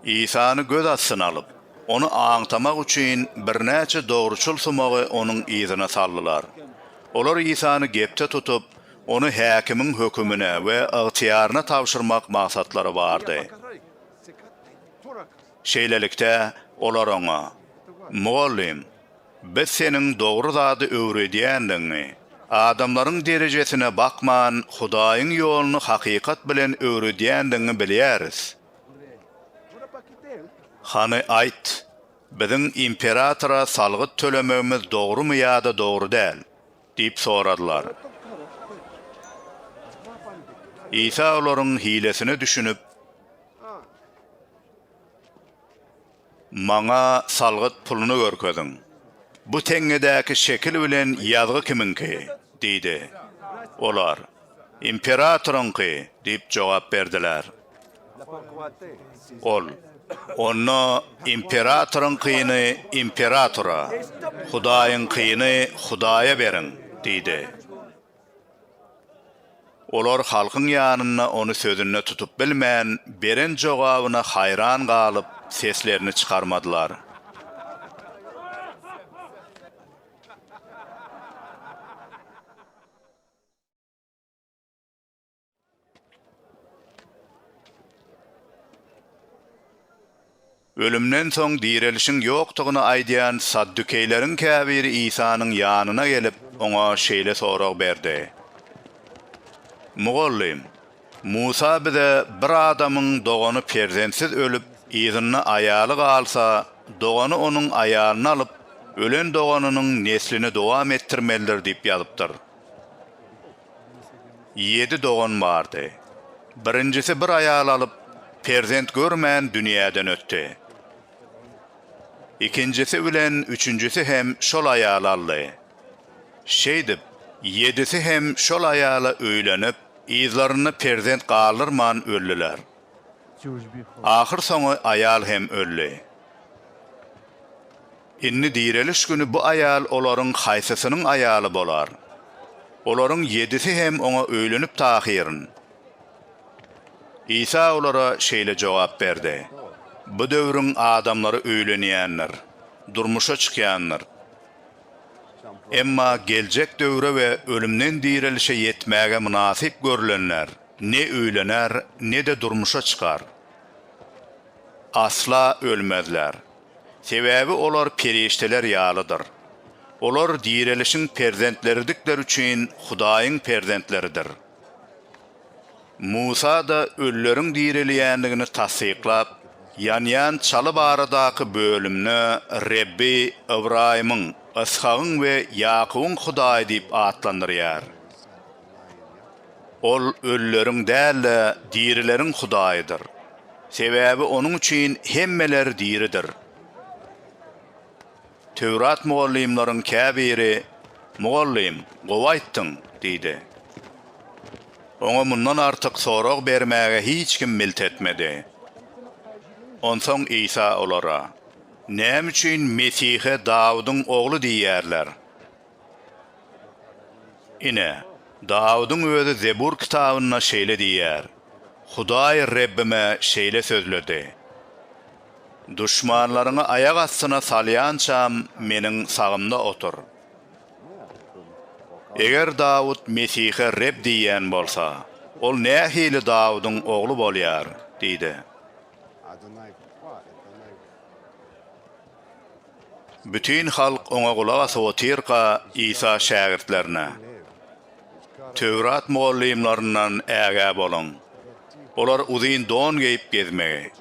Isany göz astyna alyp, Ony aňtamak üçin birnäçe dogruçyl sumagy Onuň yzyna saldylar. Olar Isany gepde tutup, Ony häkimiň hökümine we ygtyýaryna tabşyrmak maksatlary bardy. Şeýlelikde, olar Oňa, Mugallym! Biz seniň dogry zady öwredýändigiňi, adamlaryň derejesine bakman, Hudaýyň ýoluny hakykat bilen öwredýändigiňi bilýäris. Hany, aýt, biziň imperatora salgyt tölemegimiz dogrumy ýa-da dogry däl? diýip soradylar. Isa olaryň hilesine düşünip. Maňa salgyt puluny görkeziň. Bu teňňedäki şekil bilen ýazgy kimiňki? diýdi. Olar, Imperatoryňky diýip jogap berdiler. Ol, Onda imperatoryňkyny imperatora, Hudaýyňkyny Hudaýa beriň diýdi. Olar halkyň ýanynda ony sözünde tutup bilmän, beren jogabyna haýran galyp, seslerini çykarmadylar. Ölümden soň direlişiň ýokdugyny aýdýan saddukeýleriň käbiri Isanyň ýanyna gelip, oňa şeýle sorag berdi, Mugallym, Musa bize bir adamyň dogany perzentsiz ölüp, yzynda aýaly galsa, dogany onuň aýalyny alyp, ölen doganynyň neslini dowam etdirmelidir diýip ýazypdyr. Ýedi dogan bardy. Birinjisi bir aýal alyp, perzent görmän dünýäden ötdi. Ikinjisi bilen üçünjisi hem şol aýaly aldy. Şeýdip, ýedisi hem şol aýala öýlenip, yzlarynda perzent galdyrman öldüler. Ahyrsoňy aýal hem öldi. Indi direliş güni bu aýal olaryň haýsysynyň aýaly bolar? Olaryň ýedisi hem oňa öýlenip tahyryn. Isa olara şeýle jogap berdi, Bu döwrüň adamlary öýlenýändir, durmuşa çykýandyr. Emma geljek döwre we ölümden direlişe ýetmäge mynasyp görlenler ne öýlener, ne-de durmuşa çykar. Asla ölmezler. Sebäbi olar perişdeler ýalydyr. Olar direlişiň perzentleridigleri üçin Hudaýyň perzentleridir. Musa-da ölüleriň direlýändigini tassyklap, ýanýan çaly baradaky bölümde Rebbi Ybraýymyň, Yshagyň we Ýakubyň Hudaýy diýip atlandyrýar. Ol ölüleriň däl-de, dirileriň Hudaýydyr. Sebäbi Onuň üçin hemmeler diridir. Töwrat mugallymlaryň käbiri, Mugallym, gowy aýtdyň! diýdi. Oňa mundan artyk sorag bermäge hiç kim milt etmedi. Onsoň Isa olara, Näme üçin Mesihe Dawudyň ogly diýýärler? Ine, Dawudyň özi Zebur kitabynda şeýle diýýär, Hudaý Rebbime şeýle sözledi, Duşmanlaryňy aýak astyna salýançam Meniň sagymda otur. Eger Dawut Mesihe Reb diýýän bolsa, ol nähili Dawudyň ogly bolýar? diýdi. Bütin halk oňa gulak asyp otyrka, Isa şägirtlerine, Töwrat mugallymlaryndan ägä boluň. Olar uzyn don geýip gezmegi,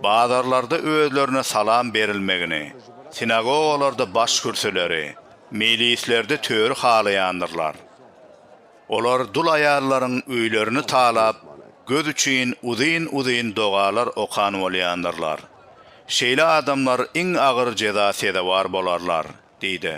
bazarlarda özlerine salam berilmegini, sinagogalarda başkürsüleri, mejlislerde töri halaýandyrlar. Olar dul aýallaryň öýlerini talap, göz üçin uzyn-uzyn dogalar okan bolýandyrlar. Şeýle adamlar iň agyr jeza sezewar bolarlar, diýdi.